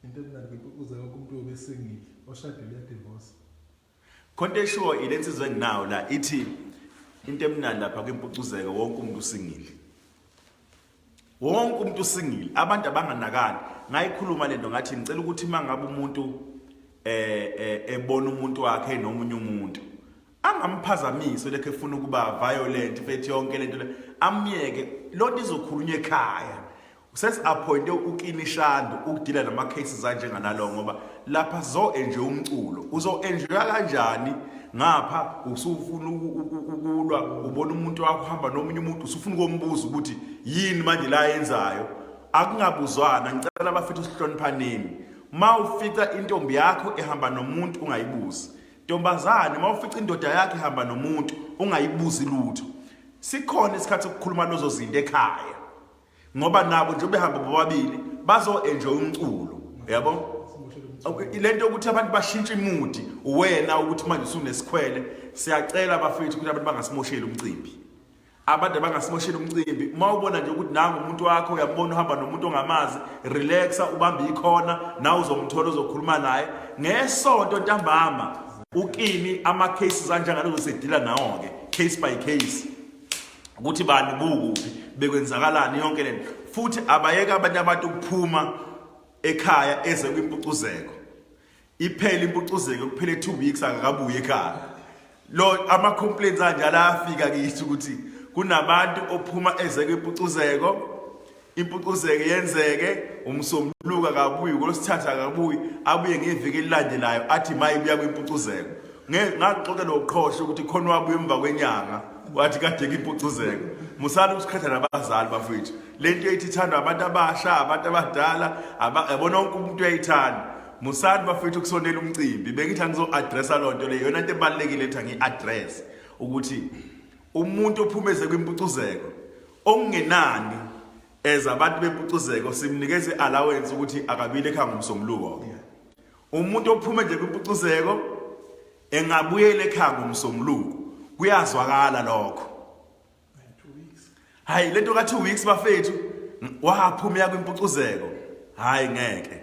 Into emnandi kuze wonke umuntu uyobe esingile oshadile uyadivorce. Khonto eshiwo ile nsizwa enginayo la ithi into emnandi lapha kwimpucuzeko wonke umuntu usingile. Wonke umuntu usingile. Abantu abanganakani. Ngayikhuluma lento ngathi ngicela ukuthi mangabe umuntu eh, eh ebona umuntu wakhe nomunye umuntu angamphazamisi lekhe efuna ukuba violent fethi yonke lento amyeke lonto izokhulunywa ekhaya Sesi-appointe uKini Shandu ukudila nama cases anjenganalo ngoba lapha zo enje umculo uzo enjoya kanjani ngapha usufuna ukulwa ubona umuntu wakho hamba nomunye umuntu usufuna ukombuza ukuthi yini manje la yenzayo akungabuzwana ngicela abafethu sihloniphaneni ma ufica intombi yakho ehamba nomuntu ungayibuzi ntombazane ma ufica indoda yakho ehamba nomuntu ungayibuzi lutho sikhona isikhathi sokukhuluma lozo zinto ekhaya ngoba nabo nje behamba bobabili bazo-enjoy umculo yabo le nto yokuthi abantu bashintshe imudi wena ukuthi manje usunesikhwele siyacela abafethu ukuthi abantu bangasimosheli umcimbi abantu abangasimosheli umcimbi uma ubona nje ukuthi nangu umuntu wakho uyambona uhamba nomuntu ongamazi relaxa ubambe ikhona nawe uzomthola uzokhuluma naye ngesonto ntambama ukini ama-cases anjengalozo sedila nawo-ke case by case ukuthi bani bukuphi bekwenzakalani yonke lento futhi abayeke abanye abantu ukuphuma ekhaya eze kwimpucuzeko iphele impucuzeko kuphele 2 weeks akakabuye ekhaya lo ama complaints anjalo afika kithi ukuthi kunabantu ophuma eze kwimpucuzeko Impucuzeko yenzeke umsombuluko akabuyi ngolosithatha akabuyi abuye ngeviki elilandelayo athi maye buya kwimpucuzeko ngaxoxa noqhosha ukuthi khona wabuya emva kwenyanga wathi kade ngimpucuzeko musani ukusikhatha nabazali bafethu le nto eyithi ithandwa abantu abasha abantu abadala yabona wonke umuntu uyayithanda musani bafethu ukusondela umcimbi bengithi angizo-adressa loo nto leyo yona nto ebalulekile ethi angiyi-adress ukuthi umuntu ophumeze kwimpucuzeko okungenani as abantu bempucuzeko simnikeza i-allowance ukuthi akabile ekhaya ngomsombuluko umuntu ophume nje kwimpucuzeko engabuyela ekhaya ngomsombuluko kuyazwakala lokho hayi lento ka 2 weeks bafethu waphuma ya kwimpucuzeko hayi ngeke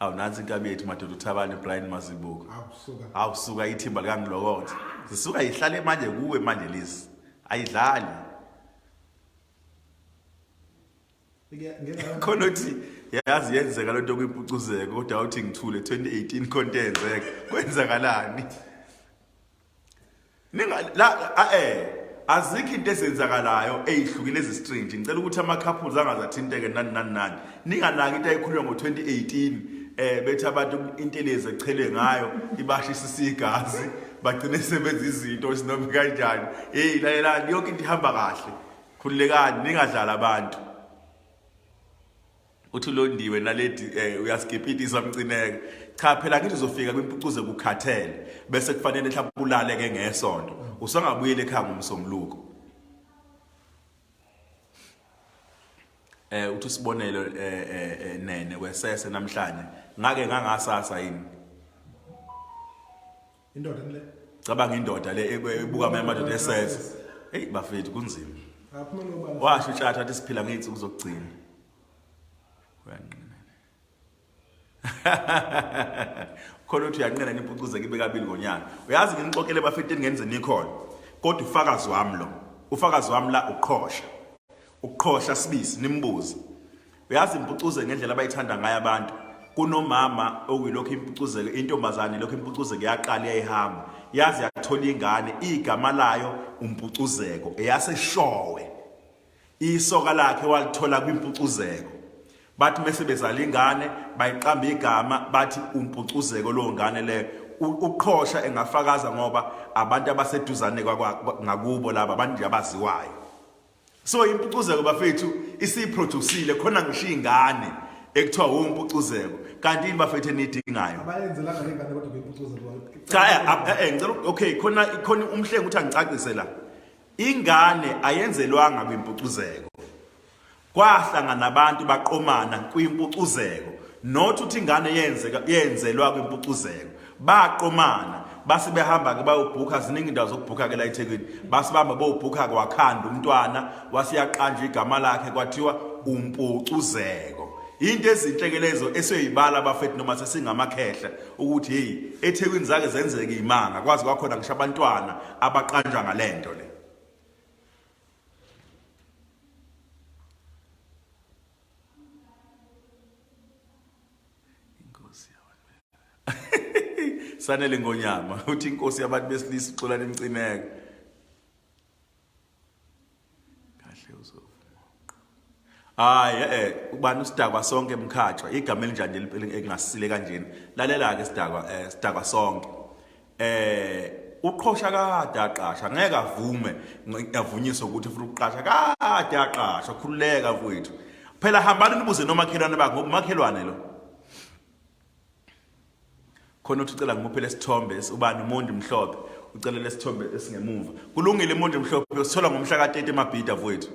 awu nansi inkabi yethu madoda uthabane brian mazibuko awu suka ithimba likangilokotha zisuka yihlale manje kuwe manje lezi ayidlali khona ukuthi yazi yenzeka lento kwimpucuzeko kodwa uthi ngithule 2018 khona yenzeka kwenzakalani ninga la eh azikho into ezenzakalayo eyihlukile ezistringe ngicela ukuthi ama couples angazathinteke nani nani nani ningalaki into ayikhulunywa ngo 2018 eh bethi abantu intelezi echele ngayo ibashisa isigazi bagcine sebenza izinto esinomi kanjani hey lalelani yonke into ihamba kahle khululekani ningadlala abantu uthi ulondiwe naledi eh, uyasigipitisa mcineke cha phela ngithi uzofika kwimpucuze kukhathele bese kufanele mhlawumbe ulale ke ngesonto usangabuyela ekhaya ngomsombuluko eh uthi usibonelo eh, eh, eh nene kwesese namhlanje ngake ngangasasa yini Indoda le. Cabanga indoda le ebuka amanye amadoda esense. Hey bafethu kunzima. Aphuma nobala. Washo utshatha athi siphila ngeyinsuku zokugcina. Uyanqina. Khona uthi uyanqina nimpucuze kibe kabili ngonyaka. Uyazi nginixoxele bafethu engenze nikhona. Kodwa ufakazi wami lo. Ufakazi wami la uqhosha. Uqhosha sibisi nimbuze. uyazi impucuze ngendlela abayithanda ngayo abantu kunomama okuyilokhu impucuzeke intombazane lokhu impucuzeke yaqala yayihamba yazi yathola ingane igama layo umpucuzeko eyaseshowe isoka lakhe walithola kwimpucuzeko bathi mese bezala ingane bayiqamba igama bathi umpucuzeko lo ngane leyo uqhosha engafakaza ngoba abantu abaseduzane ngakubo laba abantu abaziwayo so impucuzeko bafethu isiyiproducile khona ngisho iy'ngane ekuthiwa wumpucuzeko kanti yini bafethu eniyidingayo abayenzelanga le ngane kodwa beyimpucuza cha eh, eh, eh, ngicela okay khona khona umhlengi ukuthi angicacise la ingane ayenzelwanga kwimpucuzeko kwahlangana abantu baqomana kwimpucuzeko not ukuthi ingane yenzeka yenzelwa kwimpucuzeko baqomana base behamba ke bayobhukha ziningi indawo zokubhukha ke la eThekwini base bahamba bobhukha kwakhanda umntwana wasiyaqanjwa igama lakhe kwathiwa umpucuzeko into ezinhle ke lezo esoyibala abafethu noma sesingamakhehla ukuthi hey eThekwini zake zenzeke imanga kwazi kwakhona ngisho abantwana abaqanjwa ngalento le Inkosi yabantu. Sanele ngonyama uthi inkosi yabantu besilisa ixola lemcineke. Kahle uzovuma. Hayi eh ubani usidakwa sonke emkhatshwa igama elinjani elingasile kanjena. Lalela ke sidakwa eh sidakwa sonke. eh uqhosha kade aqasha ngeke avume avunyiswe ukuthi ufuna ukuqasha kade aqasha khululeka mfowethu phela hambani nibuze nomakhelwane bakhe ngoba umakhelwane lo khona uthi ucela ngimuphe lesithombe ubani umuntu mhlophe ucela lesithombe esingemuva kulungile umuntu mhlophe usithola ngomhla ka-30 emabhida mfowethu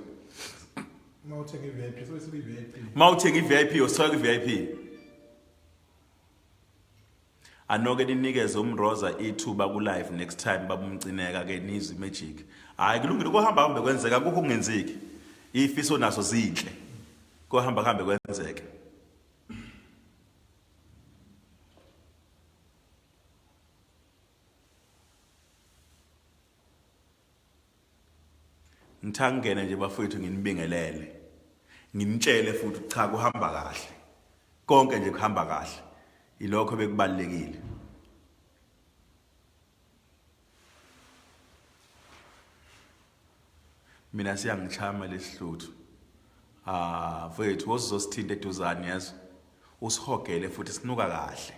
uma uthenga i-vip uma uthenga i-vip usithola kwi-vip Anoke ninikeze umroza ithuba ku live next time babumcineka ke nizwe magic hayi kulungile ukuhamba hambe kwenzeka kukho kungenzeki ifiso naso zinhle kohamba kuhambe kwenzeke Ngithangene nje bafowethu nginibingelele. Nginitshele futhi cha kuhamba kahle. Konke nje kuhamba kahle. Ilokho bekubalekile. Mina siyangichama lesihluthu. Ah, mfowethu wozosithinta eduzane yazi. Usihogele futhi sinuka kahle.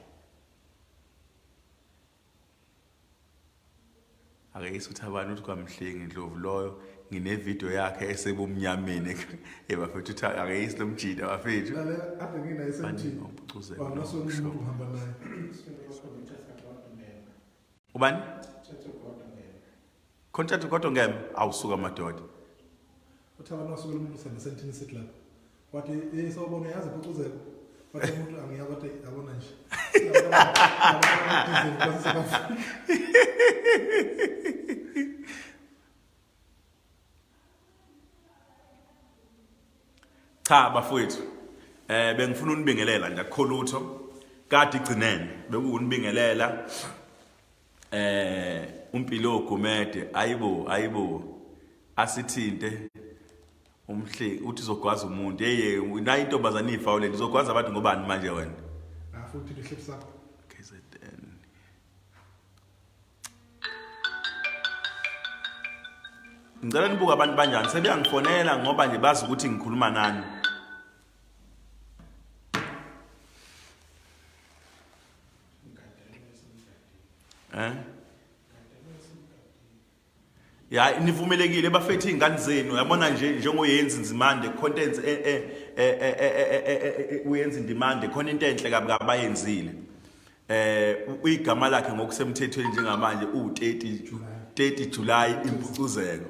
ake isutha abantu ukuthi kwamhlengi ndlovu loyo nginevidiyo yakhe esebumnyameni ebafethu uthi ake isi lomjida bafethu ubani Content kodwa ngem awusuka madoda. Uthaba masuku lomusa ngesentini sit lapha. Wathi eh sawubona yazi phucuzeka. Wathi umuntu angiya kodwa yabona nje. Cha bafowethu eh bengifuna unibingelela nje akukho lutho kade igcinene bekuwunibingelela eh umpilo gumede ayibo ayibo asithinte umhle uthi uzogwaza umuntu yeye nayo intombazane ifawule izogwaza abantu ngobani manje wena afuthi ah, lihlipsa KZN Ngicela nibuke abantu banjani sebeyangifonela ngoba nje bazi ukuthi ngikhuluma nani Eh? Ya nivumelekile bafethu izingane zenu yabona nje njengoyenza inzimande content eh eh eh uyenza indimande khona into enhle kabi kabayenzile. Eh uyigama lakhe ngokusemthethweni njengamanje u30 30 July impucuzeko.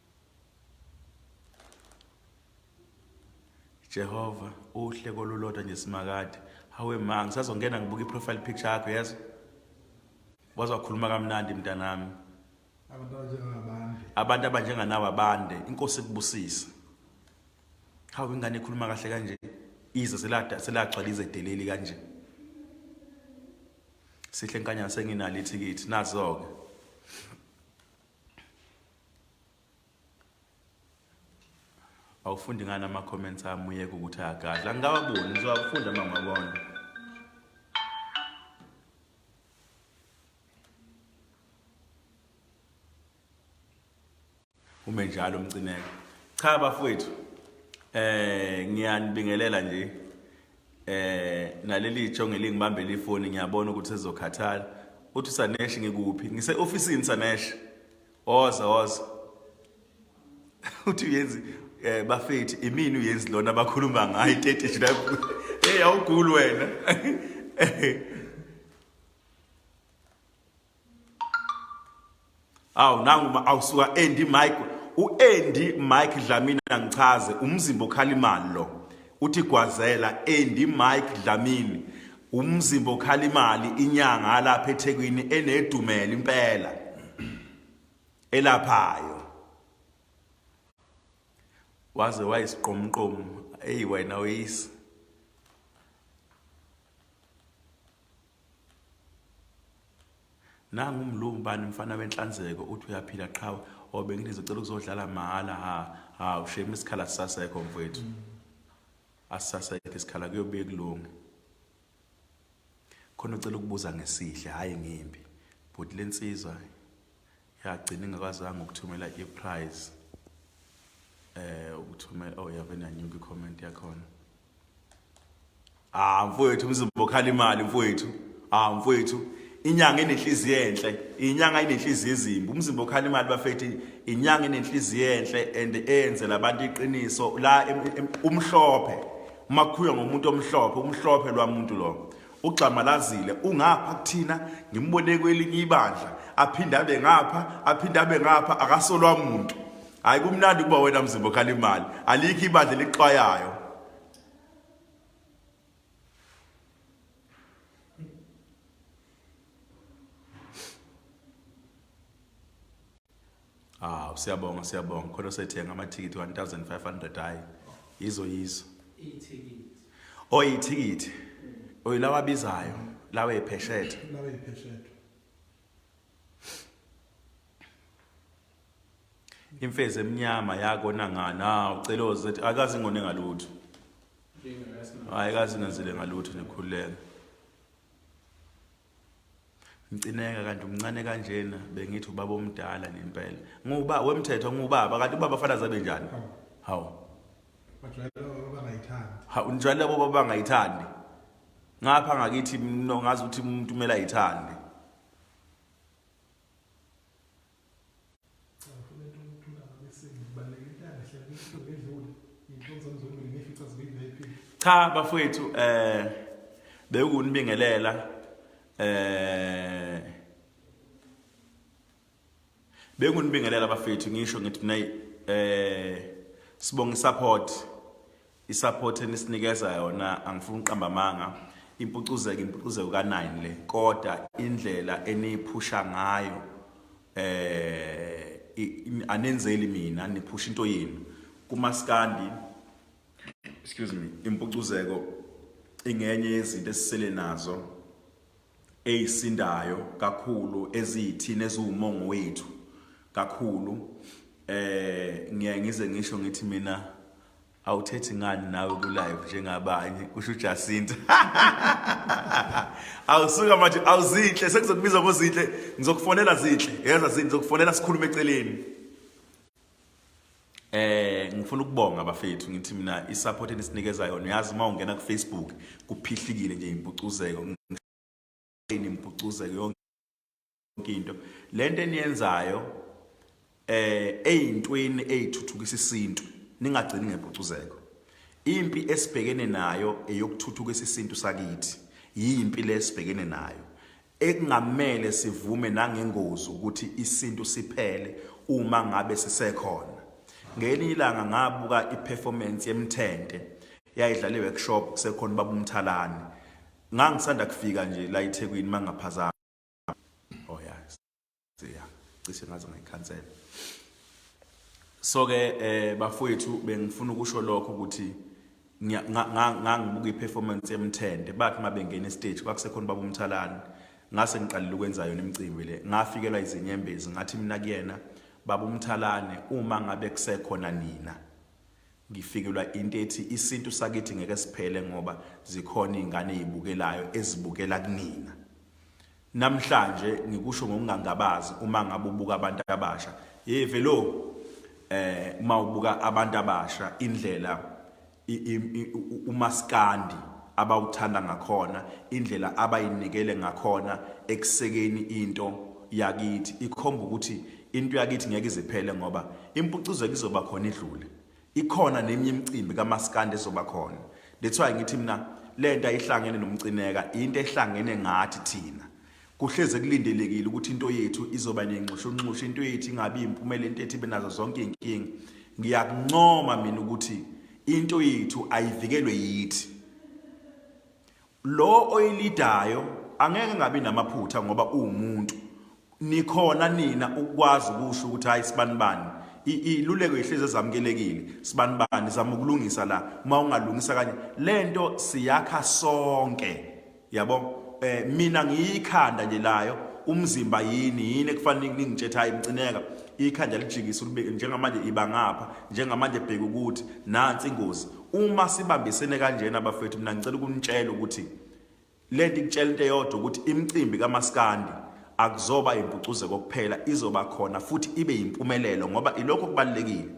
Jehova uhle kolulodwa nje simakade hawe ma ngisazongena ngibuka i-profile picture yakho yazi waze wakhuluma kamnandi mntanami abantu abanjenganawe abande inkosi ikubusise hawu ingane ikhuluma kahle kanje ize selagcwala izedeleli kanje sihle nkanyana senginalo ithikithi nazo-ke awufundi ngani ama-comments ami uyeke ukuthi ayagadla ngingawaboni ngizowafunda uma ngabona ume njalo umcineka cha bafowethu eh ngiyanibingelela nje eh naleli jonge lingibambele ifoni ngiyabona ukuthi sezokhathala uthi sanesh ngikuphi ngise officeini sanesh oza oza uthi uyenzi eh bafethi imini uyenzi lona bakhuluma ngayo 30 lapho hey awugulu wena awu nangu awusuka Andy Mike uAndy Mike Dlamini angichaze umzimba okhala imali lo uthi gwazela Andy Mike Dlamini umzimba okhala imali inyanga lapha eThekwini enedumela impela elaphayo waze wayisiqomqomo eyi wena uyisi nangu mlungu bani mfana wenhlanzeko uthi uyaphila qhawe or bengithi zicela ukuzodlala mahhala ha ha ushema isikhala sisasekho mfowethu mm. asisasekho isikhala kuyobuye kulunge khona ucela ukubuza ngesihle hhayi ngimbi bhuti le nsizwa yagcina ingakwazanga ukuthumela i-prize um eh, ukuthumela oh yavena nyuka i-comment yakhona Ah mfowethu umzimba okhala imali mfowethu. Ah mfowethu inyanga enenhliziyo enhle, inyanga enenhliziyo ezimbi. Umzimba okhala imali bafethi inyanga enenhliziyo enhle and eyenzela abantu iqiniso la umhlophe. Uma kukhuywa ngomuntu omhlophe, umhlophe lwamuntu lo. ugxamalazile ungapha kuthina ngimbone kwelinye ibandla aphinde abe ngapha aphinde abe ngapha akasolwa muntu hayi kumnandi ukuba wena mzimba okhala imali alikho ibandla elixwayayo Ah, siyabonga siyabonga. Khona sethenga amathikithi 1500 hayi. Yizo yizo. Ithikithi. Oh, ithikithi. Oyilawa bizayo, lawa epheshethe. Lawa epheshethe. Imfezi emnyama yakona ngana uceloze akazi ngone ngalutho. Hayi kazi ngenzile ngalutho nikhululeke. Mcineka kanti umncane kanjena bengithi ubaba omdala ngempela. Nguba wemthetho ngubaba kanti ubaba fana zabe njani? Hawu. Bajwayele baba bangayithandi. Ha unjwayele baba bangayithandi. Ngapha ngakithi ngazi ukuthi umuntu kumele ayithande. cha bafowethu eh bewukunibingelela eh bekunibingelela bafethu ngisho ngithi mina eh sibonga support Isupport enisinikeza yona angifuni uqamba amanga impucuzeko impucuzeko ka9 le kodwa indlela eniphusha ngayo eh anenzeli mina niphusha into yenu kumaskandi excuse me impucuzeko ingenye yezinto esisele nazo eyisindayo kakhulu eziyithina eziwumongo wethu kakhulu eh ngiye ngize ngisho ngithi mina awuthethi ngani nawe ku live njengabanye kusho uJacinta awusuka manje awuzinhle sekuzokubiza ngozinhle ngizokufonela zinhle yeza zinhle ngizokufonela sikhulume eceleni Eh ngifuna ukubonga abafethu ngithi mina isupport enisinikeza yona uyazi uma ungena ku Facebook kuphihlikile nje impucuzeko impucuzeko yonke into lento eniyenzayo eh eyintweni eyithuthukisa isintu ningagcini ngempucuzeko impi esibhekene nayo eyokuthuthukisa isintu sakithi yimpi lesibhekene nayo Ekungamele sivume nangengozi ukuthi isintu siphele uma ngabe sisekhona. Ngelinye ilanga ngabuka i-performance yemthente yayidlala i-workshop kusekhona ubaba uMthalane. Ngangisanda kufika nje la eThekwini mangaphazama. ya cishe ngaze ngayikhansela so ke eh bafowethu bengifuna ukusho lokho ukuthi ngangibuka i-performance yemthende bathi uma bengena estage kwakusekhona ubaba umthalane ngase ngiqalile ukwenza yona imicimbi le ngafikelwa izinyembezi ngathi mina kuyena baba umthalane uma ngabe kusekhona nina ngifikelwa into ethi isintu sakithi ngeke siphele ngoba zikhona izingane ezibukelayo ezibukela kunina Namhlanje ngikusho ngokungangabazi uma ngabe ubuka abantu abasha. Hey velo eh uma ubuka abantu abasha indlela umaskandi abawuthanda ngakhona, indlela abayinikele ngakhona ekusekeni into yakithi ikhomba ukuthi into yakithi ngeke iziphele ngoba impucuzeko izoba khona idlule. Ikhona neminye imicimbi kamaskandi ezoba khona. That's why ngithi mina lento ayihlangene nomcineka, into ehlangene ngathi thina. Kuhleze kulindelekile ukuthi into yethu izoba nenxushunxushu, into yethu ingabi impumela, into yethu ibe nazo zonke izinkinga. Ngiyakuncoma mina ukuthi into yethu ayivikelwe yithi. Lo oyilidayo angeke ngabi namaphutha ngoba uwumuntu. Nikhona nina ukwazi ukusho ukuthi hayi sibanibani. Iluleko ihlezi ezamukelekile sibanibani zama ukulungisa la uma ungalungisa kanye lento siyakha sonke yabo eh mina ngiyikhanda nje layo umzimba yini yini ekufanele ningitshethe hayi mcineka ikhanda lijikisa ukubeke njengamanje iba ngapha njengamanje bheka ukuthi nansi ingozi Uma sibambisene kanjena bafethu mina ngicela ukunitshela ukuthi lento ikutshela into eyodwa ukuthi imicimbi kamaskandi akuzoba impucuzeko kuphela izoba khona futhi ibe yimpumelelo ngoba ilokho kubalekile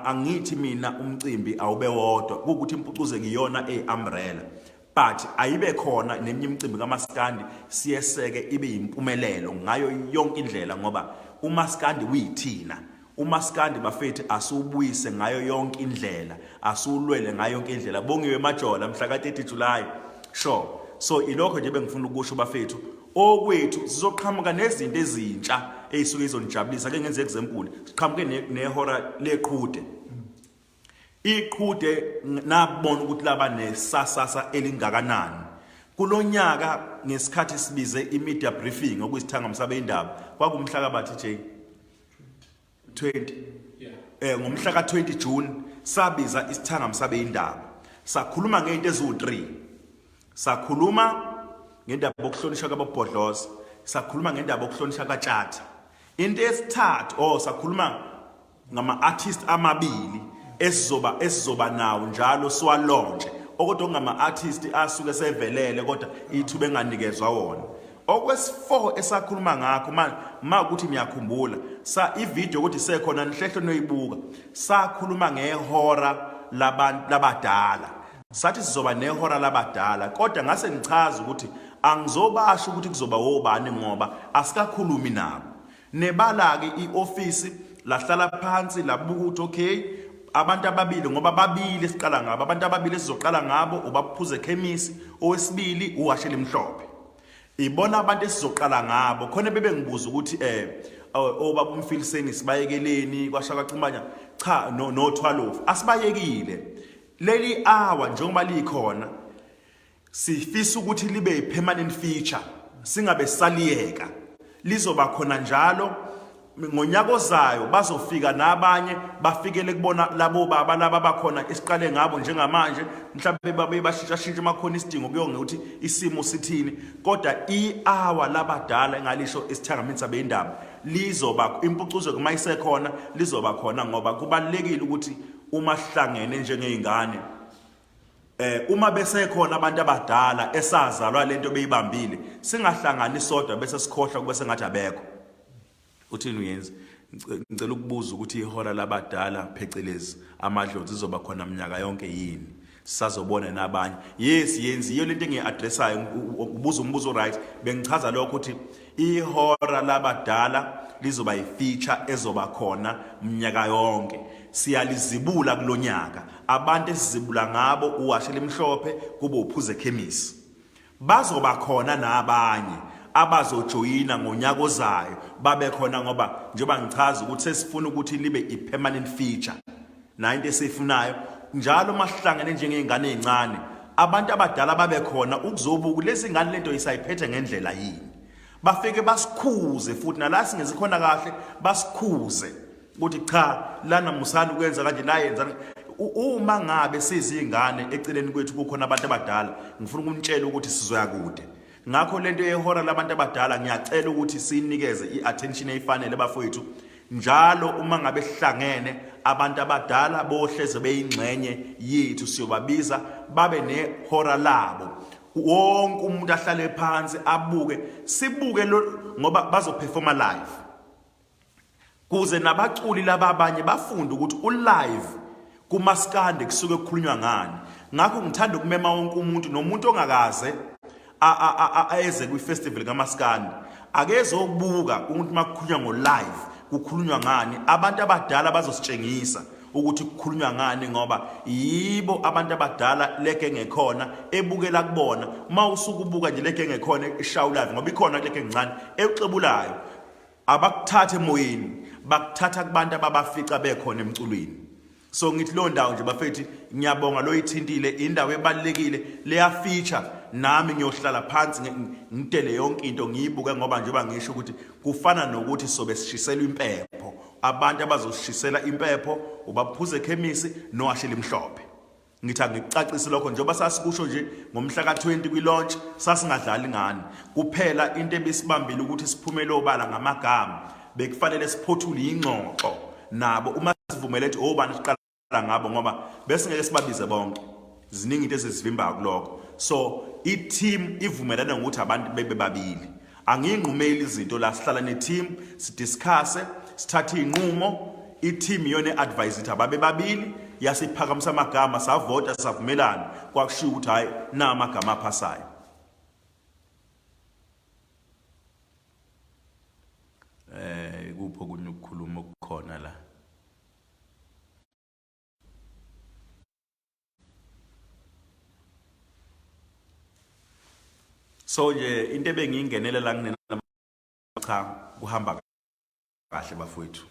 angithi mina umcimbi awube wodwa ukuthi impucuzeko iyona eumbrella but ayibe khona nenye imicimbi kamaskandi siyeseke ibe yimpumelelo ngayo yonke indlela ngoba umaskandi uyithina umaskandi bafethu asiwubuyise ngayo yonke indlela asiwulwele ngayo yonke indlela bongiwe majola mhla ka-30 July sure so ilokho nje bengifuna ukusho bafethu okwethu sizoqhamuka nezinto ezintsha eyisuke izonijabulisa ke ngenze example siqhamuke nehora leqhude Iqhude nabona ukuthi laba nesasasa elingakanani. Kulonyaka ngesikhathi sibize imedia briefing okuyisithanga msabe indaba kwakumhla kabathi J 20 eh ngomhla ka 20 June sabiza isithanga msabe indaba sakhuluma ngento eziwu3 sakhuluma ngendaba yokuhlonishwa kababhodloza sakhuluma ngendaba yokuhlonishwa katshatha into esithathu oh sakhuluma ngama-artist amabili esizoba esizoba nawo njalo siwalonje okodwa ngama-artist asuke sevelele kodwa ithuba enganikezwa wona okwesifoho esakhuluma ngakho ma ukuthi niyakhumbula sa ivideo ukuthi sekhona nihlehlo noyibuka sakhuluma ngehora labantu labadala sathi sizoba nehora labadala kodwa ngase ngichaza ukuthi angizobasho ukuthi kuzoba wobani ngoba asikakhulumi nabo Nebala-ke i-ofisi lahlala phansi labuka ukuthi okay abantu ababili ngoba babili siqala ngabo abantu ababili esizoqala ngabo ubaphuze ekhemisi owesibili uwashela imhlophe ibona abantu esizoqala ngabo khona bebe ngibuza ukuthi eh obaba oh, umfiliseni sibayekeleni kwashaka xumanya cha no no 12 asibayekile leli hour njengoba likhona Sifisa ukuthi libe yi-permanent feature singabe saliyeka lizoba khona njalo ngonyaka ozayo bazofika nabanye bafikele kubona labo baba laba bakhona esiqale ngabo njengamanje mhlawumbe babe bashintshashintsha makhona isidingo kuyonge ukuthi isimo sithini kodwa i-hour labadala engalisho esithangamini sabe indaba lizoba impucuzo kuma isekhona lizoba khona ngoba kubalekile ukuthi uma sihlangene njengezingane eh uma besekhona abantu abadala esazalwa lento beyibambile singahlangani sodwa bese sikhohlwa kube sengathi abekho uthini uyenza ngicela ukubuza ukuthi ihora labadala phecelezi amadlozi izoba khona mnyaka yonke yini sazobona nabanye yes yenziyo lento engiyi-addressayo ubuza umbuzo right bengichaza lokho ukuthi Ihora labadala lizoba yifeature ezoba khona mnyaka yonke. Siyalizibula kulonyaka. Abantu esizibula ngabo uwashe limhlophe kube uphuze ekhemisi. Bazoba khona nabanye abazojoyina ngonyaka ozayo babe khona ngoba njengoba ngichaza ukuthi sesifuna ukuthi libe i-permanent feature. nayo into esiyifunayo njalo uma sihlangene njengey'ngane ey'ncane abantu abadala babe khona ukuzobuka lezi ngane lento isayiphethe ngendlela yini bafike basikhuze futhi nala singezi khona kahle basikhuze ukuthi cha lana musani ukwenza kanje la yenza uma ngabe sizingane eceleni kwethu kukhona abantu abadala ngifuna ukunitshela ukuthi sizoya kude Ngakho lento yehora labantu abadala ngiyacela ukuthi sinikeze iattention eyifanele bafowethu njalo uma ngabe sihlangene abantu abadala bohleze beyingxenye yethu siyobabiza babe nehora labo wonke umuntu ahlale phansi abuke sibuke ngoba bazoperforma live kuze nabaculi laba abanye bafunde ukuthi ulive kumaskande kusuke kukhulunywa ngani ngakho ngithanda ukumema wonke umuntu nomuntu ongakaze ayeze kwi-festival kamaskandi akezokubuka ukuthi uma kukhulunywa ngo-live kukhulunywa ngani abantu abadala bazositshengisa ukuthi kukhulunywa ngani ngoba yibo abantu abadala leke ngekhona ebukela kubona uma usuke ubuka nje leke ngekhona ishawulayo ngoba ikhona leke ngincane exebulayo abakuthatha emoyeni bakuthatha kubantu ababafica bekhona emculweni so ngithi leyo ndawo nje bafethi ngiyabonga loyithintile indawo ebalekile leya feature nami ngiyohlala phansi ngidele yonke into ngiyibuke ngoba njengoba ngisho ukuthi kufana nokuthi sobe sishiselwa impepho abantu abazoshisela impepho ubaphuze ekhemisi noashela imhlophe Ngithi angikucacise lokho njengoba sasikusho nje ngomhla ka-20 kwi-launch sasingadlali ngani. Kuphela into ebisibambile ukuthi siphumele obala ngamagama. Bekufanele siphothule ingxoxo nabo uma sivumele ukuthi obani siqala ngabo ngoba bese ngeke sibabize bonke ziningi into ezizivimbayo kuloko so i-team ivumelana ngokuthi abantu bebe babili Angiyinqumeli izinto la sihlala ne team sidiscuss sithatha izinqumo i team yone advise ithi ababe babili yasiphakamisa amagama savota savumelana kwakushiya ukuthi hayi na amagama aphasayo eh kupho kunokukhuluma okukhona la so nje into ebengiyingenele la kunenamacha kuhamba kahle bafowethu